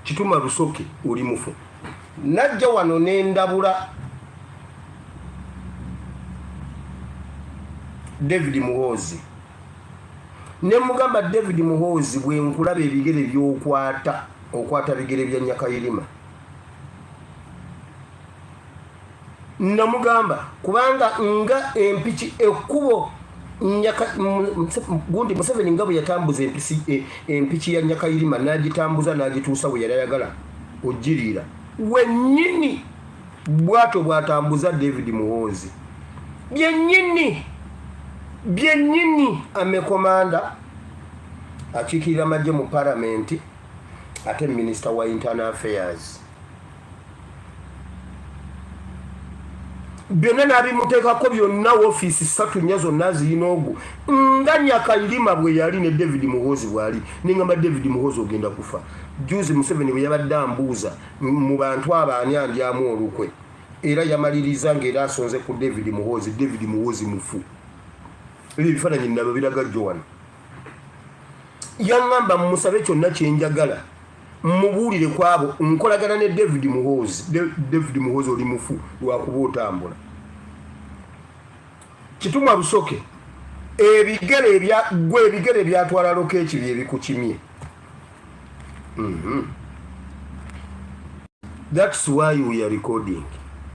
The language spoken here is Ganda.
kituma lusoke oli mufu najja wano nendabula david muhoozi nemugamba david muhoozi bwenkulaba ebigere byokwata okwata bigere bya nyakayirima namugamba kubanga nga empiki ekkubo gundi museveni nga bwe yatambuza e, empiki ya nyakayirima n'agitambuza n'agituusa we yali ayagala ogiriira wennyini bwato bwatambuza david muhoozi byennyini byennyini amekomanda akiikirira amagye mu paramenti ate minisita wa internal affairs byonna n'abimuteekako byonna wofiisi satu nnya zonna ziyina ogwo nga nyakairima bwe yali ne david muhoozi bwali nengamba david muhoozi ogenda kufa juzi museveni bwe yabadde ambuuza mu bantu abaani andyamu olukwe era yamaliriza ngaera asonze ku david muhoozi david muhoozi mufu ebyo ebifaananyi nabyo biraga joan yaŋŋamba mmusabe kyonna kye njagala mmubuulire ku abo nkolagana ne david muhoozi david muhoozi oli mufu lwakuba otambula kitumwa busoke ebigere gwe ebigere byatwala loka eki byebikukimye mhm. thats why we are recording